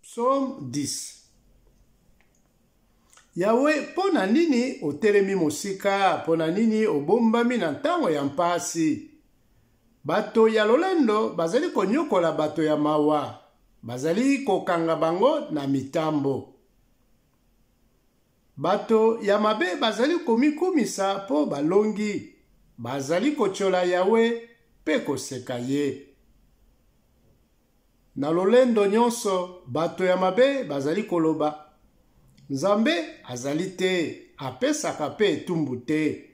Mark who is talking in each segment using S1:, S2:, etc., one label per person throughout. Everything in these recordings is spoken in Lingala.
S1: Psaume 10 Yawe, mpo na nini otelemi mosika? Mpo na nini obombami na ntango ya mpasi? Bato ya lolendo bazali konyokola bato ya mawa, bazali kokanga bango na mitambo. Bato ya mabe bazali komikumisa mpo balongi, bazali kotyola Yawe mpe koseka ye. Na lolendo nyonso, bato ya mabe bazali koloba, Nzambe azali te, apesaka mpe etumbu te.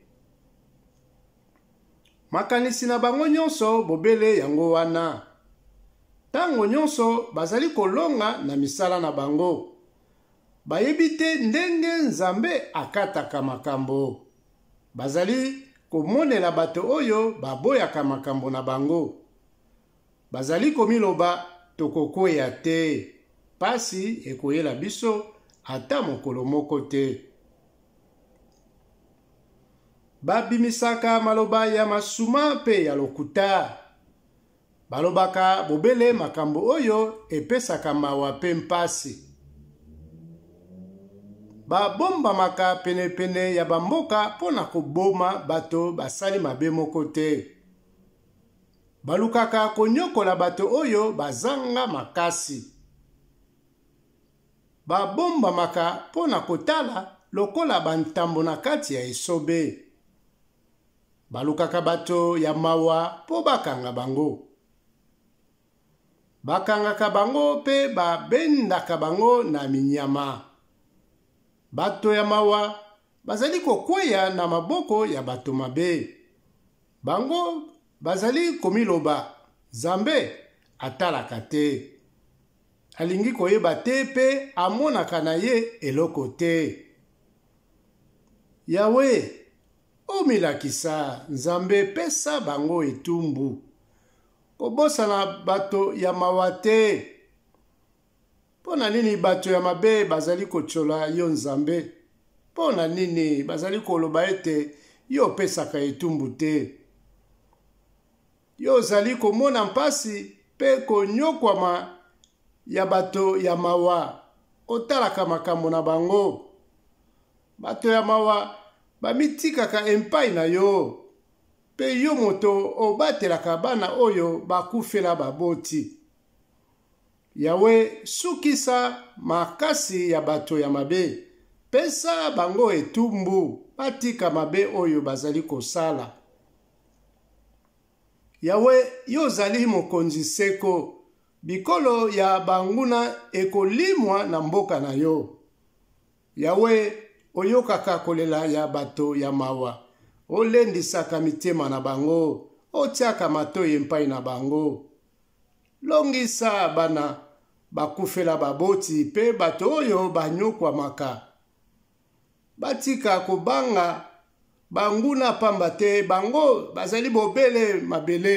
S1: Makanisi na bango nyonso bobele yango wana. Ntango nyonso bazali kolonga na misala na bango. Bayebi te ndenge Nzambe akataka makambo. Bazali komonela bato oyo baboyaka makambo na bango. Bazali komiloba tokokweya te, pasi ekoyela biso ata mokolo moko te. Babimisaka maloba ya masuma mpe ya lokuta. Balobaka bobele makambo oyo epesaka mawa mpe mpasi. Babombamaka penepene ya bamboka mpo na koboma bato basali mabe moko te. Balukaka konyokola bato oyo bazanga makasi. Babombamaka mpo na kotala lokola bantambo na kati ya esobe. Balukaka bato ya mawa mpo bakanga bango. Bakangaka bango mpe babendaka bango na minyama. Bato ya mawa bazali kokweya na maboko ya bato mabe. Bango bazali komiloba Nzambe atalaka te, alingi koyeba te mpe amonaka na ye eloko te. Yawe, omilakisa, Nzambe, pesa bango etumbu. Kobosana bato ya mawa te. Mpo na nini bato ya mabe bazali kotyola yo Nzambe? Mpo na nini bazali koloba ete yo opesaka etumbu te? Yo ozali komona mpasi mpe konyokwama ya bato ya mawa, otalaka makambo na bango. Bato ya mawa bamitikaka epai na yo, mpe yo moto obatelaka bana oyo bakufela baboti. Yawe, sukisa makasi ya bato ya mabe, pesa bango etumbu, batika mabe oyo bazali kosala. Yawe, yo ozali mokonzi seko, bikolo ya banguna ekolimwa na mboka na yo. Yawe, oyokaka kolela ya bato ya mawa, olendisaka mitema na bango, otiaka matoyi epai na bango. Longisa bana bakufela baboti mpe bato oyo banyokwamaka. Batika kobanga banguna pamba te bango bazali bobele mabele.